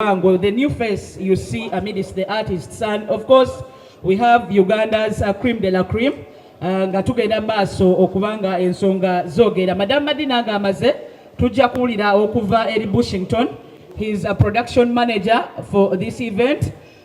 Lubango, the new face you see amidst the artists. And of course, we have Uganda's uh, cream de la cream. Uh, nga tugenda maaso okubanga ensonga zogera madam madina nga amaze tujja kuwulira okuva eri bushington he is a production manager for this event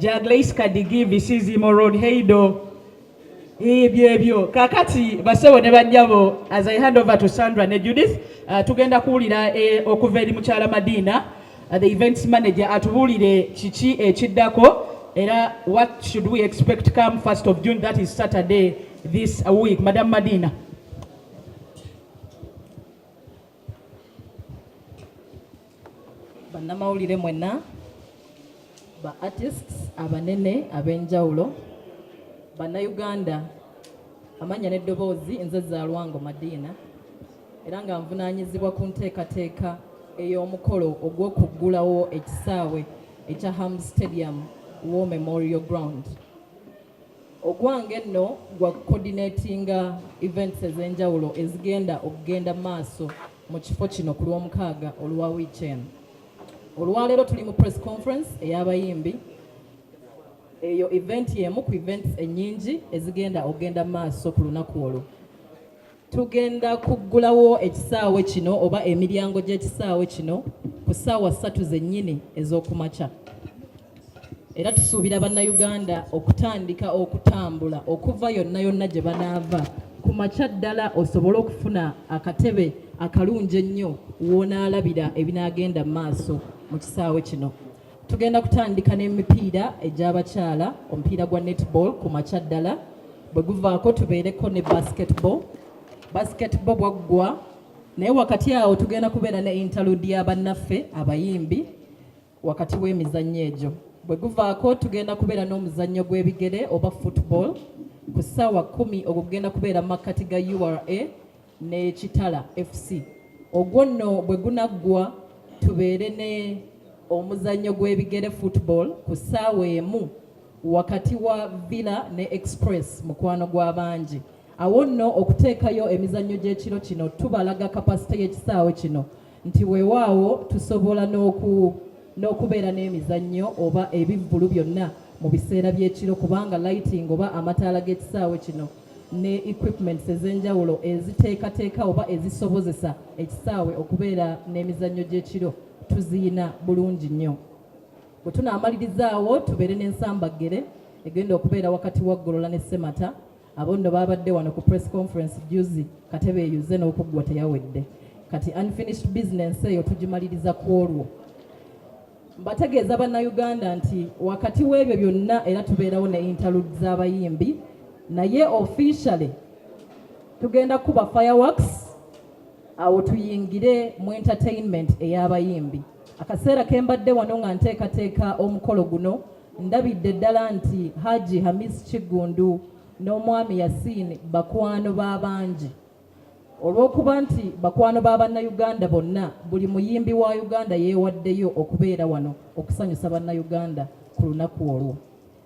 Jaglace Kadigi Bisizimo Road Heido ebyo ebyo kakati basebo ne banyabo as I hand over to Sandra ne Judith uh, tugenda kuwulira eh, okuva eri mukyala Madina uh, the events manager atubuulire kiki ekiddako era what should we expect come 1st of June that is Saturday this week Madam Madina bannamawulire mwenna ba artists abanene ab'enjawulo bannayuganda amannya n'eddoboozi nze zaalwango madiina era nga nvunaanyizibwa ku nteekateeka ey'omukolo ogw'okuggulawo ekisaawe ekya ham stadium war memorial ground Ogwange nno gwa coordinatinga events ez'enjawulo ezigenda okugenda maaso mu kifo kino ku lw'omukaaga olwa wiiki eno. Olwaleero tuli mu press conference ey'abayimbi eyo event y'emu ku events ennyingi ezigenda okugenda maaso ku lunaku olwo. tugenda kuggulawo ekisaawe kino oba emiryango gy'ekisaawe kino ku ssaawa ssatu zennyini ez'okumakya era tusuubira bannayuganda okutandika okutambula okuva yonna yonna gye banaava ku makya ddala osobole okufuna akatebe akalungi ennyo w'onaalabira ebinaagenda mu maaso mu kisaawe kino Tugenda kutandika n'emipiira egy'abakyala omupiira gwa netball ku makya ddala bwe guvaako tubeereko ne basketball basketball bwaggwa naye wakati awo tugenda kubeera ne interlude ya bannaffe abayimbi wakati w'emizannyo egyo bwe guvaako tugenda kubeera n'omuzannyo gw'ebigere oba football ku ssaawa kumi ogwo gugenda kubeera mu makkati ga ura ne Kitala FC ogwo nno bwe gunaggwa tubeere ne omuzannyo gw'ebigere football ku ssaawa emu wakati wa Villa ne Express mukwano gw'abangi awo nno okuteekayo emizannyo gy'ekiro kino tubalaga kapasite y'ekisaawe kino nti weewaawo tusobola n'oku n'okubeera n'emizannyo oba ebivvulu byonna mu biseera by'ekiro kubanga lighting oba amataala g'ekisaawe kino ne equipments ez'enjawulo eziteekateeka oba ezisobozesa ekisaawe okubeera n'emizannyo gy'ekiro tuziyina bulungi nnyo bwe tunaamalirizaawo tubeere n'ensambaggere egenda okubeera wakati wa ggolola ne semata abo nno baabadde wano ku press conference juzi katebe eyuze n'okuggwa teyawedde kati unfinished business eyo tugimaliriza ku olwo Mbategeeza Bannayuganda nti wakati w'ebyo byonna era tubeerawo ne interlude z'abayimbi naye officially tugenda kuba fireworks awo tuyingire mu entertainment ey'abayimbi. Akaseera ke mbadde wano nga nteekateeka omukolo guno ndabidde ddala nti Haji Hamis Kiggundu n'omwami Yasin bakwano b'abangi Olw'okuba nti bakwano ba Bannayuganda bonna, buli muyimbi wa Uganda yeewaddeyo okubeera wano okusanyusa Bannayuganda ku lunaku olwo.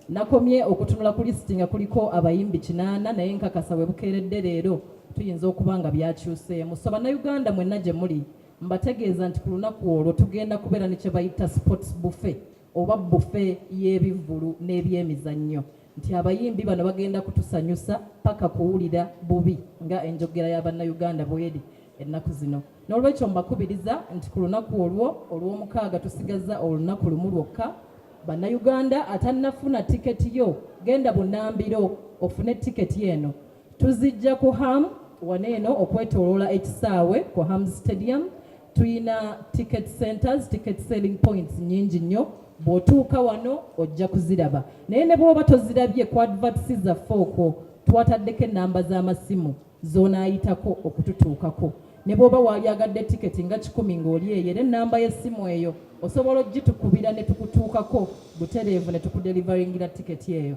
Nakomye okutunula ku lisiti nga kuliko abayimbi kinaana naye nkakasa we bukeeredde leero tuyinza okuba nga byakyuseemu. So Bannayuganda mwenna gye muli mbategeeza nti ku lunaku olwo tugenda kubeera ne kye bayita sports buffet oba bbufe y'ebivvulu n'ebyemizannyo. nti abayimbi bano bagenda kutusanyusa paka kuwulira bubi nga enjogera ya bannayuganda bweri ennaku zino n'olwekyo mbakubiriza nti ku lunaku olwo olw'omukaaga tusigaza olunaku lumu lwokka bannayuganda atannafuna tiketi yo genda bunambiro ofune tiketi eno tuzijja ku ham waneeno okwetoloola ekisaawe ku ham stadium Tuyina ticket centers, ticket selling points nyingi nnyo bw'otuuka wano ojja kuziraba naye ne bw'oba tozirabye ku adverts zaffe okwo twataddeko ennamba z'amasimu z'onaayitako okututuukako ne bw'oba waalyagadde tiketi nga kikumi ng'oli eyo era ennamba y'essimu eyo osobola ogitukubira ne tukutuukako butereevu ne tukudelivaringira tiketi eyo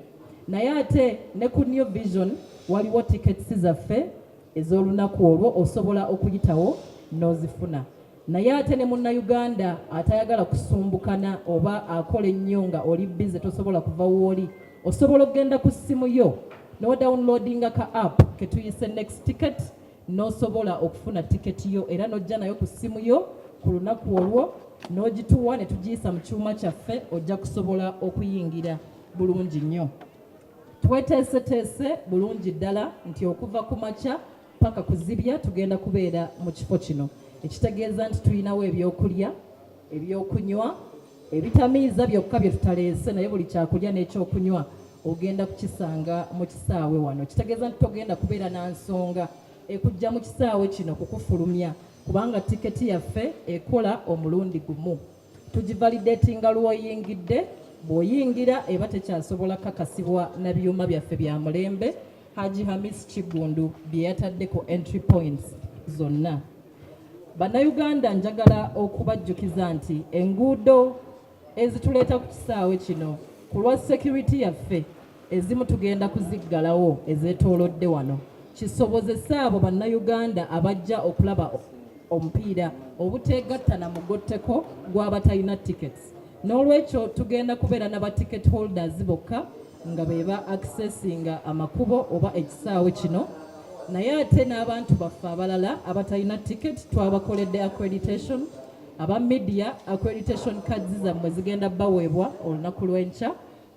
naye ate ne ku new vision waliwo tiketsi zaffe ez'olunaku olwo osobola okuyitawo n'ozifuna naye ate ne munnayuganda atayagala kusumbukana oba akola ennyo nga oli bize tosobola kuva wooli osobola okugenda ku ssimu yo nodawunlodinga ka app ketuyise next ticket n'osobola okufuna tiketi yo era n'ojja nayo ku ssimu yo ku lunaku olwo n'ogituwa ne tugiyisa mu kyuma kyaffe ojja kusobola okuyingira bulungi nnyo Tweteeseteese bulungi ddala nti okuva ku makya paka kuzibya tugenda kubeera mu kifo kino ekitegeeza nti tulinawo ebyokulya ebyokunywa ebitamiiza byokka bye tutaleese naye buli kyakulya n'ekyokunywa ogenda kukisanga mu kisaawe wano kitegeeza nti togenda kubeera na nsonga ekujja mu kisaawe kino kukufulumya kubanga tiketi yaffe ekola omulundi gumu tugivalidatinga lw'oyingidde bw'oyingira eba tekyasobola kakasibwa na byuma byaffe bya mulembe haji hamis kiggundu bye yatadde ku entry points zonna bannayuganda njagala okubajjukiza nti enguudo ezituleeta ku kisaawe kino ku lwa security yaffe Ezimu tugenda kuziggalawo ezeetoolodde wano kisobozese abo Bannayuganda abajja okulaba omupiira obuteegatta na mugotteko gw'abatalina tickets. N'olwekyo tugenda kubeera na ba ticket holders bokka nga be ba accessinga amakubo oba ekisaawe kino naye ate n'abantu baffe abalala abatalina ticket twabakoledde accreditation aba media accreditation cards zammwe zigenda baweebwa olunaku lw'enkya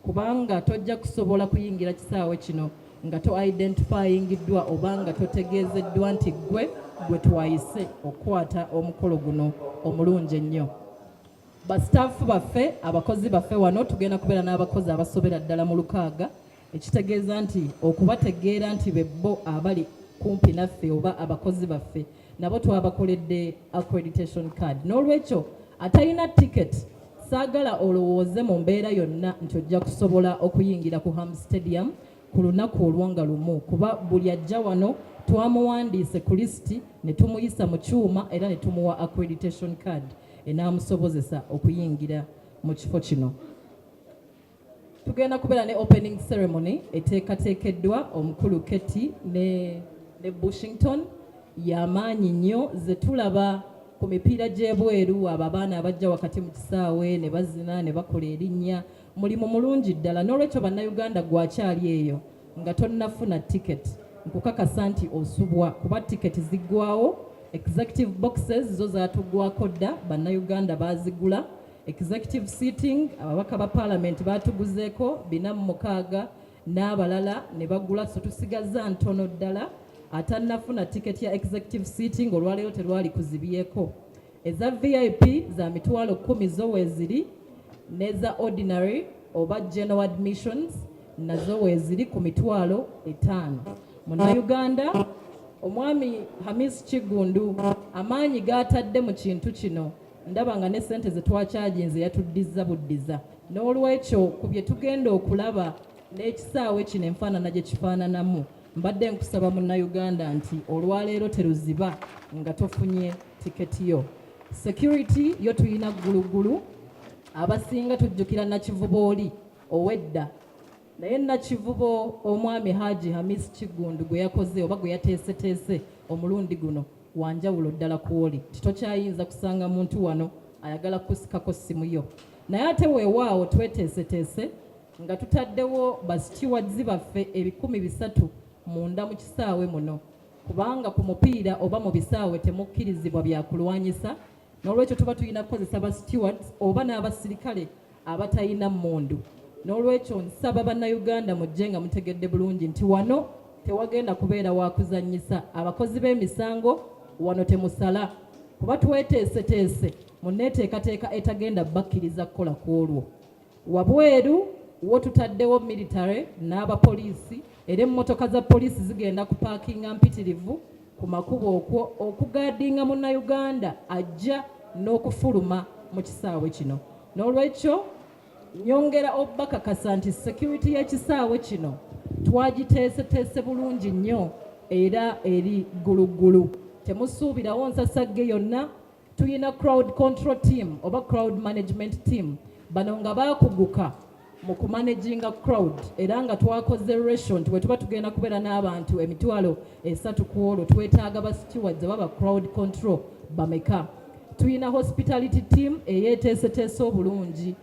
kubanga tojja kusobola kuyingira kisaawe kino nga to identifyingiddwa oba nga totegeezeddwa nti ggwe gwe twayise okukwata omukolo guno omulungi ennyo basitaafu baffe abakozi baffe wano tugenda kubeera n'abakozi abasobera ddala mu lukaaga ekitegeeza nti okubategeera nti bebbo abali kumpi naffe oba abakozi baffe nabo twabakoledde accreditation card n'olwekyo atalina ticket saagala olowooze mu mbeera yonna nti ojja kusobola okuyingira ku ham stadium ku lunaku olwo nga lumu kuba buli ajja wano twamuwandiise ku lisiti ne tumuyisa mu kyuma era ne tumuwa accreditation card enaamusobozesa okuyingira mu kifo kino tugenda kubeera ne opening ceremony eteekateekeddwa omukulu Keti ne, ne Bushington yamaanyi nnyo ze tulaba ku mipiira gy'ebweru abo abaana abajja wakati mu kisaawe ne bazina ne bakola erinnya mulimu mulungi ddala n'olwekyo bannayuganda gwakyali eyo nga tonnafuna tiketi nkukakasa nti osubwa kuba tiketi ziggwawo executive boxes zo zaatuggwako dda bannayuganda baazigula Executive sitting ababaka ba parliament baatuguzeeko bina mu mukaaga n'abalala ne bagula so tusigazza ntono ddala atannafuna tiketi ya executive sitting olwaleero terwali kuzibyeko eza vip za mitwalo kumi zo weeziri n'eza ordinary oba general admissions nazo weeziri ku mitwalo etaano munnayuganda omwami hamis kiggundu amaanyi gaatadde mu kintu kino ndaba nga ne ssente ze twakyaginze yatuddizza buddiza n'olwekyo ku bye tugenda okulaba n'ekisaawe kino enfaanana gye kifaananamu mbadde nkusaba munnayuganda nti olwaleero teruziba nga tofunye tiketi yo security yo tulina gguluggulu abasinga tujjukira nakivuba oli owedda naye nakivubo omwami Haji Hamis Kiggundu gwe yakoze oba gwe yateeseteese omulundi guno wanjawulo ddala kwoli nti tokyayinza kusanga muntu wano ayagala kusikako ssimu yo naye ate weewaawo tweteeseteese nga tutaddewo basitiwadzi baffe ebikumi bisatu munda mu kisaawe muno kubanga ku mupiira oba mu bisaawe temukkirizibwa byakulwanyisa n'olwekyo tuba tulina kukozesa ba stewards oba n'abasirikale abatalina mmundu n'olwekyo nsaba bannayuganda mujje nga mutegedde bulungi nti wano tewagenda kubeera wakuzanyisa abakozi b'emisango wano temusala kuba tweteeseteese mu nneeteekateeka etagenda bakkiriza kukola ku olwo Wabweru wo tutaddewo military n'abapoliisi era emmotoka za poliisi zigenda kupaakinga mpitirivu ku makubo okwo okugaadinga munnayuganda ajja n'okufuluma mu kisaawe kino n'olwekyo nyongera obubakakasa nti security y'ekisaawe kino twagiteeseteese bulungi nnyo era eri gguluggulu temusuubirawo nsasagge yonna tulina crowd control team oba crowd management team bano nga bakuguka mu kumanaginga crowd era nga twakoze ratio nti bwetuba tugenda kubeera n'abantu emitwalo esatu ku olwo twetaaga ba stewards oba ba crowd control bameka tulina hospitality team eyeeteeseteese obulungi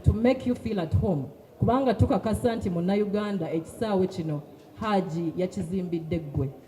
to make you feel at home kubanga tukakasa nti munnayuganda ekisaawe kino haaji yakizimbidde ggwe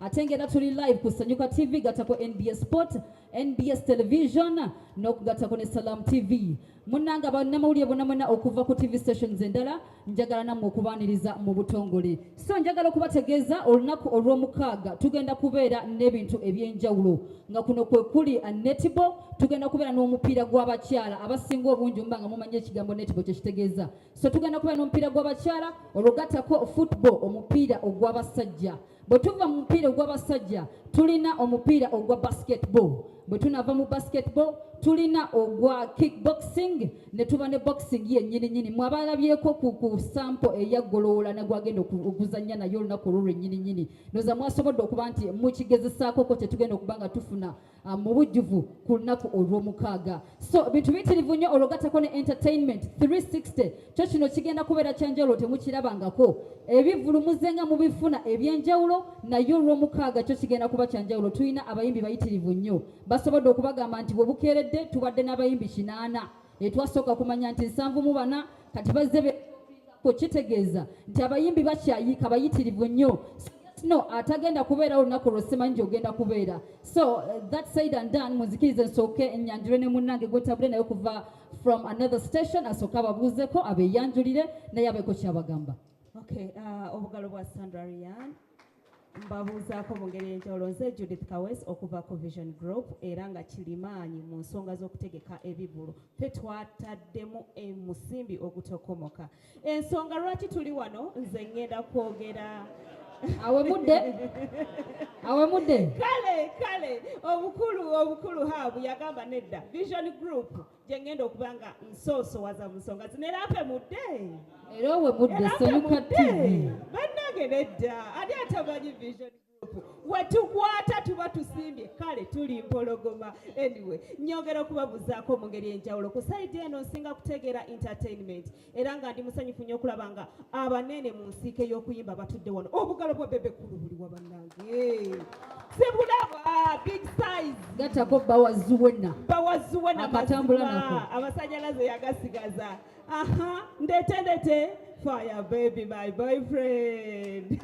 ate ngera tuli live ku Sanyuka TV gatako NBS Sport NBS Television n'okugattako ne Salam TV munnanga bannamawulire bonna mwenna okuva ku TV stations endala njagala nammwe okubaaniriza mu butongole so njagala okubategeeza olunaku olw'omukaaga tugenda kubeera n'ebintu eby'enjawulo nga kuno kwe kuli netibo tugenda kubeera n'omupiira gw'abakyala abasinga obungi mba nga mumanyi ekigambo netibo kye kitegeeza so tugenda kubeera n'omupiira gw'abakyala olwogattako football omupiira ogw'abasajja bwe tuva mu mupiira ogw'abasajja tulina omupiira ogwa basketball bwe tunava mu basketball tulina ogwa kickboxing ne tuba ne boxing yennyini nyini mwabalabyeko ku, ku sampo eyaggoloola negwagenda okuzannya naye olunaku olwo lwennyini nyini noza mwasobodde okuba nti mukigezesaakoko kyetugenda okuba nga tufuna Ah, mu bujjuvu ku lunaku olw'omukaaga so bintu bitirivu nnyo olwo gattako ne entertainment 360 kyo kino kigenda kubeera kyenjawulo temukirabangako ebivulumuze nga mubifuna ebyenjawulo naye olw'omukaaga kyo kigenda kuba kyanjawulo tulina abayimbi bayitirivu nnyo basobodde okubagamba nti bwe bukeeredde tubadde n'abayimbi kinaana Etwasooka kumanya nti nsanvu mu bana kati bazze beku kitegeeza nti abayimbi bakyayiika bayitirivu nnyo no atagenda kubeera olunaku lwo simanyi gyogenda kubeera so uh, that said and done munzikirize nsooke enyanjule ne munnange gwetabule naye okuva from another station asooke ababuuzeko abeyanjulire naye abeeko kyabagamba okay uh, obugalo bwa sandra rian mbabuuzaako mu ngeri enjawulo nze judith kawes okuva ku vision group era nga kirimaanyi mu nsonga z'okutegeka ebivulu fe twataddemu omusimbi ogutokomoka ensonga lwaki tuli wano nze ngenda kwogera awemudde awemudde kale kale obukulu obukulu haabu yagamba nedda vision group gye ngenda okuba nga nsoosowaza mu nsonga zino era ape mudde era owe mudde semuka tivi bannange nedda ani atamanyi vision wetukwata tuba tusimbye kale tuli mpologoma anyway nyongera okubabuzaako mu ngeri enjawulo ku saidi eno nsinga kutegeera entertainment era nga ndi musanyufu nnyo okulaba nga abanene mu nsiike y'okuyimba batudde wano obugalo bwa bebe kulu buli wa bannange sibulaba big size gatako bawazuwena bawazuwena akatambula nako amasanyalaze yagasigaza aha ndete ndete fire baby my boyfriend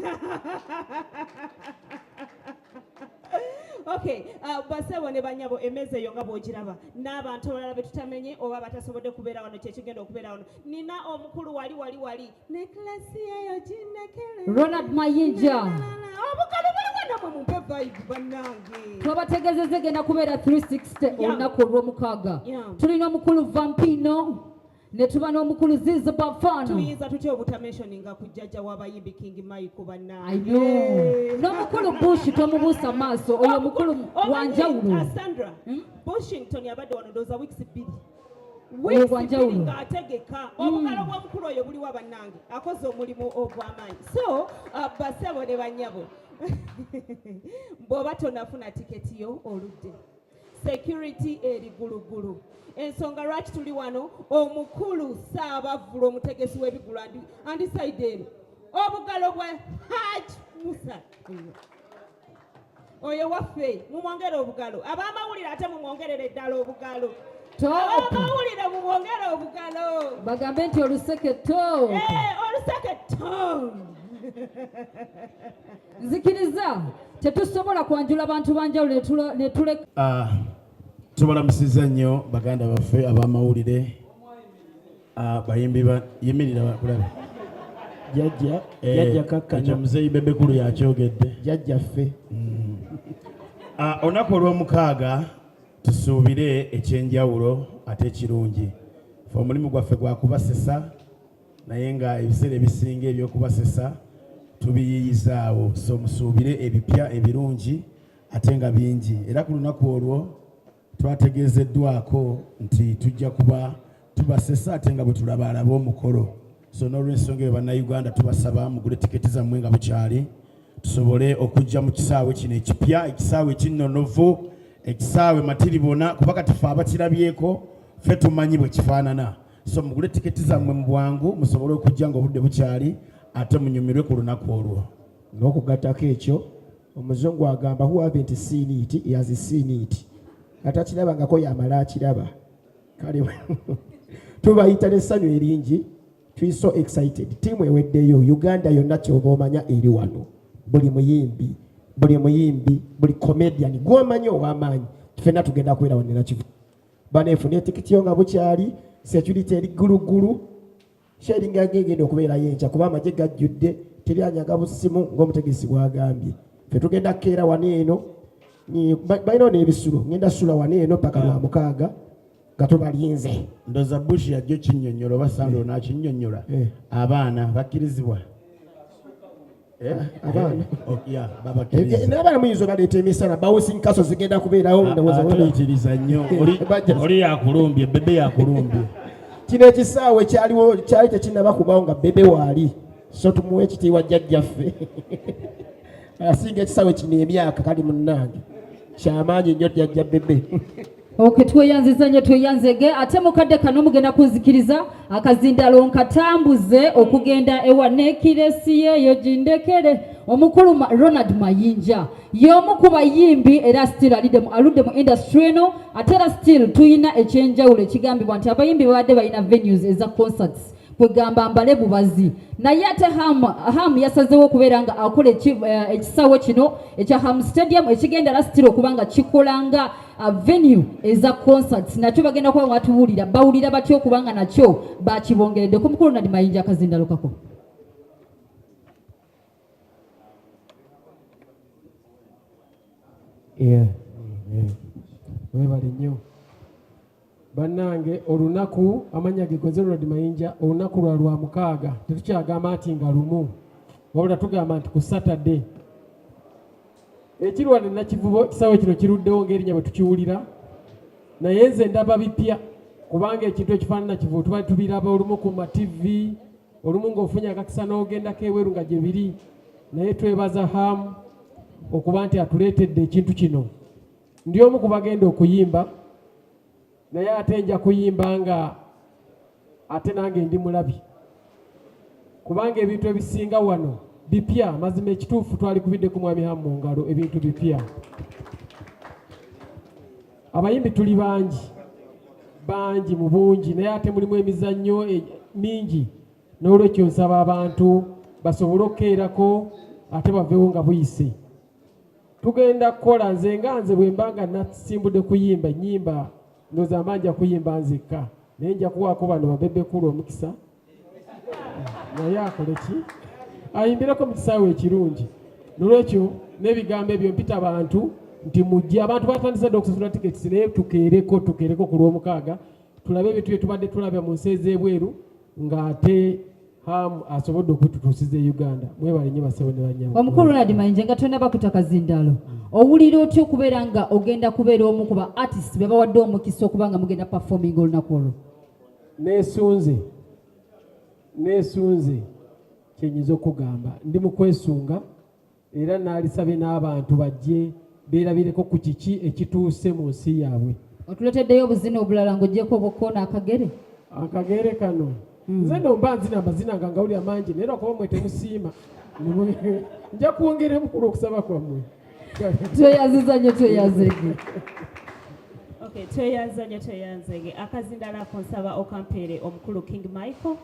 okay uh, basebo ne banyabo emeza eyo nga bwogiraba n'abantu abalala be tutamenye oba batasobodde kubeera wano kyekigenda okubeera wano nina omukulu wali wali wali ne kilasi eyo ginekere ronald mayinja obukalo buli wanamwe mumpe vibe bannange twabategeezeza egenda kubeera 360 olunaku olw'omukaaga tulina omukulu vampino ne tuba n'omukulu ziizi bafana tuyinza tutya obutamentioninga ku jjajja w'abayimbi king michael bannange n'omukulu bush tomubuusa maaso oyo oh, mukulu oh, wanjawulo uh, sandra hmm? bushington yabadde wano ndooza weeks bbiri ng'ategeka hmm. obukalo bw'omukulu oyo buliwa bannange akoze omulimu ogw'amaanyi so uh, basebo ne bannyabo bw'oba tonafuna tiketi yo oludde security eri gulugulu ensonga lwaki tuli wano omukulu saabavvula omutegesi w'ebigulu andisaide eri obugalo bwa haj musa oyo waffe mumwongere obugalo abamawulire ate mumwongerere ddala obugalo abamawulire mumwongere obugalo bagambe nti oluseke to eh, oluseke to nzikiriza tetusobola kwanjula bantu banjawulo netuleka ah, tubalamusiza nnyo baganda baffe abamawulire ah, bayimbi yimirira bakulabe jajja eh, jajja kakkanya muzeyi bebekulu yakyogedde jajja ffe mm. ah, olunaku olw'omukaaga tusuubire ekyenjawulo ate ekirungi fe omulimu gwaffe gwakubasesa naye nga ebiseera ebisinga ebyokubasesa tubiyiiyizaawo so musuubire ebipya ebirungi ate nga bingi era ku lunaku olwo twategeezeddwako nti tujja kuba tubasesa ate nga bwe tulabaalaba omukolo so n'olwensonga eyo bannayuganda tubasaba mugule tiketi zammwe nga bukyali tusobole okujja mu kisaawe kino ekipya ekisaawe kinnonovu ekisaawe matiribona kuba kati fe abakirabyeko fe tumanyi bwe kifaanana so mugule tiketi zammwe mu bwangu musobole okujja nga obudde bukyali ate munyumirwe ku lunaku olwo n'okugattako ekyo omuzungu agamba who haven't seen it he has seen it atakirabangako yamala akiraba kale tubayita n'essanyu eringi tuli so excited tiimu eweddeyo uganda yonna kyoba omanya eri wano buli muyimbi buli muyimbi buli comedian gwomanyi ow'amaanyi fenna tugenda kubeera wanera kivu baneefuna etikitiyo nga bukyali security eri gguluggulu sharinga ngegenda okubeerayo enkya kuba amagye gajjudde teri anyaga busimu ng'omutegesi bwagambye fe tugenda kukeera wano eno balinawo n'ebisulo ngenda sula wano eno paka lwa mukaaga nga tubalinze ndoza bush yajjo kinyonyola oba sando eh. nakinyonyola eh. abaana bakkirizibwa Eh, abaana oh, eh, muyinza obaleeta emisana bouncing kaso zigenda kubeerawo ah, ndowoozaoyitiriza ah, nnyo eh, oli yakulumbye bebe yakulumbye kino ekisaawe kyaliwo kyali tekinaba kubawo nga bebe waali so tumuwa ekitiibwa jjajjaffe asinga ekisaawe kino emyaka kali munnange kyamaanyi nnyo jjajja bebe Okay, tweyanziza nnyo tweyanzege ate mukadde kano mugenda kunzikiriza akazindalo nkatambuze okugenda ewa nekiresi yeeyo gindekere omukulu ronald mayinja y'omu ku bayimbi era still alidemu aludde mu industry eno ate era still tulina ekyenjawulo ekigambibwa nti abayimbi babadde balina venues eza concerts kwegamba mbale bubazi naye ate ham, ham yasazewo okubeera nga akola eh, ekisawo kino ekya ham stadium ekigenda lasitira okuba nga kikola nga Uh, venue eza concerts nakyo bagenda kuba watuwulira bawulira batya okubanga nakyo bakibongeredde ku mukulu nadi mayinja akazindalukako webale nnyo bannange olunaku amannya ge koze rod mayinja olunaku lwa lwa mukaaga tetukyagamba nti nga lumu wabula tugamba nti ku satade ekirwade nakivubo ekisaawe kino kiruddewo ngaerinya bwe tukiwulira naye nze ndaba bipya kubanga ekintu ekifaanana kivu tubali tubiraba olumu ku mativi olumu ng'ofunye akakisa n'ogendako ebweru nga gye biri naye twebaza hamu okuba nti atuleetedde ekintu kino ndi omu ku bagenda okuyimba naye ate nja kuyimba nga ate nange ndi mulabi kubanga ebintu ebisinga wano bipya mazima ekituufu twali kubidde ku mwami hamu ngalo ebintu bipya abayimbi tuli bangi bangi mu bungi naye ate mulimu emizannyo e, mingi n'olwekyo nsaba abantu basobole okukeerako ate bavewo nga buyise tugenda kukola nze nga nze bwe mba nga nasimbudde kuyimba nyimba ndoza mba nja kuyimba nzekka naye nja kuwaako bano babebekulu omukisa naye akole ki ayimbireko mu kisaawe ekirungi nolwekyo n'ebigambo ebyo mpita bantu nti mujje abantu batandise dda okusasula tiketi naye tukeereko tukeereko ku lwomukaaga tulabe ebintu bye tubadde tulabya mu nsi ez'ebweru ng'ate hamu asobodde okututuusiza e uganda mwebale nyo basebo ne banyamu omukulu ronald mayinja nga tonna bakuta kazindaalo owulira otya okubeera nga ogenda kubeera omu ku ba artist be bawadde omukisa okuba nga mugenda performing olunaku olwo nesunze nesunze kyenyinza okugamba ndi mu kwesunga era naalisabye n'abantu bajje beerabireko ku kiki ekituuse mu nsi yaabwe otuleteddeyo obuzina obulala ng'ogyeko obukoona akagere akagere kano hmm. nze no mba nzina amazina nga ngawulira mangi naye lwakuba mwe temusiima nja kwongera emukulu okusaba kwammwe tweyaziza nyo tweyazege tweyanze nyo tweyanze akazindala konsaba okampeere omukulu king michael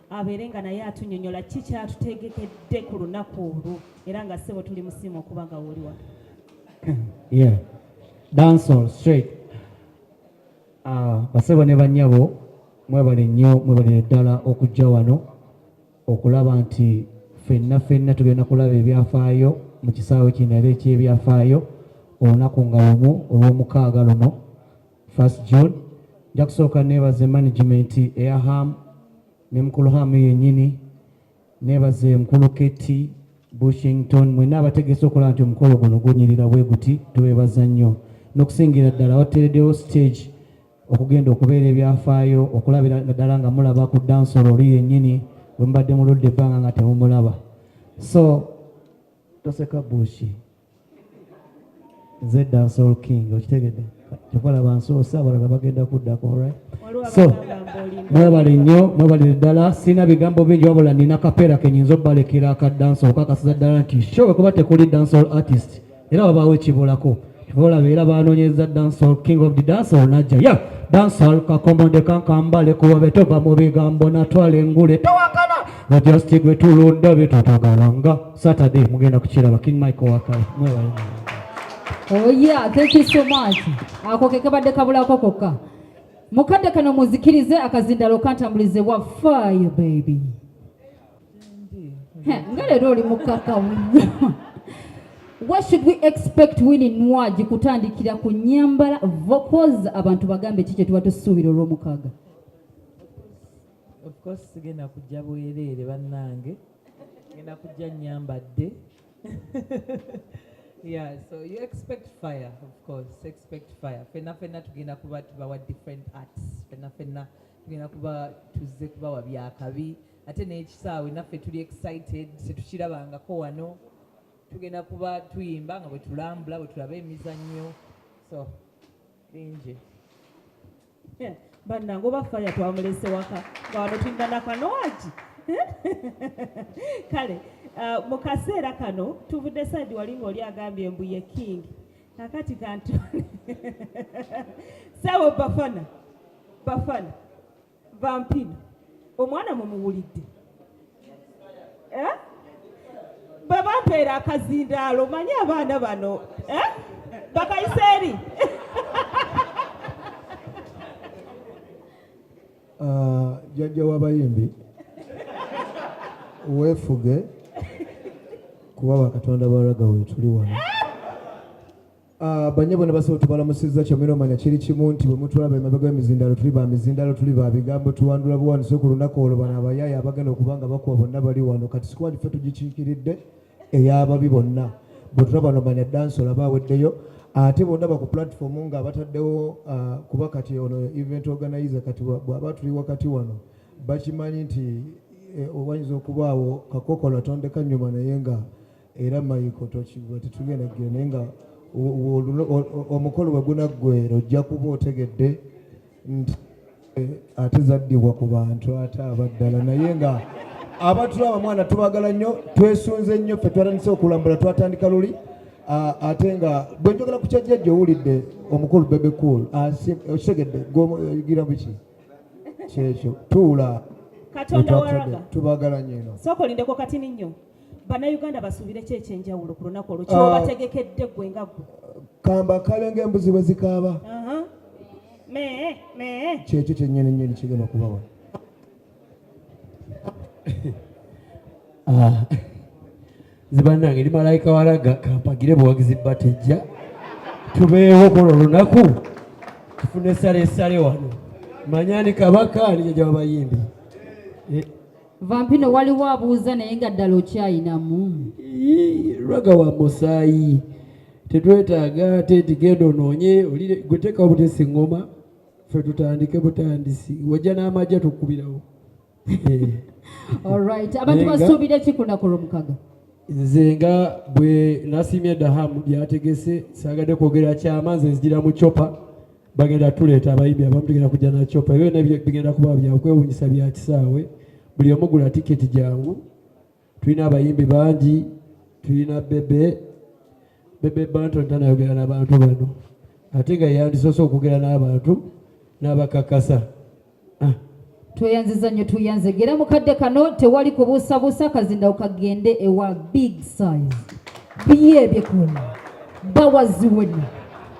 abeere nga naye atunyonyola ki kyatutegekedde ku lunaku olwo era nga ssebo tuli musiima okuba nga woliwa dancehall straight ah, basebo ne banyabo mwebale nnyo mwebalire ddala okujja wano okulaba nti fenna fenna tugenda kulaba ebyafaayo mu kisaawe kino era ekyebyafaayo olunaku nga lumu olw'omukaaga luno First June nja kusooka neebaze management eya ham ne mukulu ham yennyini neebaze mukulu Keti Bushington mwena abategese okulaba nti omukolo guno gunyirira bwe guti tubeebaza nnyo n'okusingira ddala wateeredewo stage okugenda okubeera ebyafaayo okulabira ddala nga mulaba ku dansolo oli yennyini bwe mubadde muludde ebbanga nga temumulaba so toseka bushi nze dansol king okitegedde kyokolaba nsoose abalala bagenda kuddako right so mwebale nnyo mwebalire ddala sirina bigambo bingi wabula nina kapeera kenyinza obalekera aka dansol kakasiza ddala nti show wekuba tekuli dansol artist era wabaawo ekibulako olaba era banoonyeza dansol king of the dansol najja ya dansol kakomonde kankambale kuwabe tova mu bigambo natwala engule towakana bajasti gwe tulunda bye tutagalanga Saturday mugenda kukiraba King Michael Wakayi mwebale Oh yeah, thank you so much. Ako ke kabadde kabulako kokka. Mukadde kano muzikirize akazindalo kantambulize wa fire baby. Nga leero oli mukaka What should we expect Winnie Nwagi kutandikira ku nyambala vocals abantu bagambe ki kye tuba tusuubira olw'omukaaga? Of course sigenda kujja bwereere bannange. ngenda kujja nyambadde yeah so you expect fire of course expect fire fenna fenna tugenda kuba tubawa different arts fenna fenna tugenda kuba tuzze kubawa byakabi ate n'ekisaawe naffe tuli excited tetukirabangako wano tugenda kuba tuyimba nga bwe tulambula bwe tulaba emizannyo so bingi Eh, bannange oba faya twamulese waka nga wano tulina nakanowaki eh? kale uh, mu kaseera kano tuvudde saidi wali nga oli agambye mbu ye king kakati kantu sawo bafana bafana vampino omwana mumuwulidde eh? bwebampeera akazindaalo manye abaana bano eh? bakayise eri ah, jajja w'abayimbi weefuge kuba bakatonda baraga wetuli wano Ah, banyabo ne basawo tubalamusizza kyamwera omanya kiri kimu nti bwe mutulaba emabega w'emizindaalo tuli ba mizindaalo tuli ba bigambo tuwandula buwandiso ku lunaku olwo bano abayaaye abagenda okuba nga bakuwa bonna bali wano kati sikwali ffe tugikiikiridde ey'ababi bonna bwe tulaba no manya dansi olaba aweddeyo ate bonna baku platform nga abataddewo ah, kuba kati ono event organizer kati bw'aba tuli wakati wano bakimanyi nti eh, wayinza okubaawo kakokola tondeka nnyuma naye nga era mayiko tokigwa tetugenda gyo naye nga omukolo bwe gunaggwera ojja kuba otegedde nti eh, ate zaddibwa ku bantu ate abaddala naye nga abatula abamwana tubagala nnyo twesunze nnyo ffe twatandise okulambula twatandika luli ate nga bwe njogera ku kyajjajja owulidde omukulu bebe cool okitegedde gwogira biki kyekyo tuula tubagala nnyo eno sooka olindeko katini nnyo bannayuganda basuubire ki ekyenjawulo ku lunaku olwo kyobategekedde ah. gwe nga gwe kamba kabe ngaembuzi bwe zikaaba kyekyo kyenyini nyini kigenda okubawa ah. zibanange ndi malayika walaga kampagire buwagizi batejja tubeewo kono olunaku tufune sale sale wano manyani kabaka nijajawabayimbi eh. vampino waliwo abuuza naye nga ddala okyayinamu raga wa musaayi tetwetaaga ate nti genda onoonye olire gwe teekawo butesi ngoma fe tutandike butandisi wajja n'amagye tukubirawo olright abantu basuubira ekikunaku lwomukaga nze nga bwe nasiimye dahamu byategese saagadde kwogera kyama nze nzijira mu copa bagenda tuleeta abayimbi abamu tugenda kujja na copa ebyo byonna bigenda kuba byakwewunyisa bya kisaawe buli omu gula tiketi jangu tulina abayimbi bangi tulina bebe bebe bantu ntanayogera n'abantu bano ate nga yandisoose okwogera n'abantu n'abakakasa ah. tweyanziza nnyo tuyanze gera mukadde kano tewali kubuusabuusa kazinda okagende ewa big size biye ebyekuna bawaziwena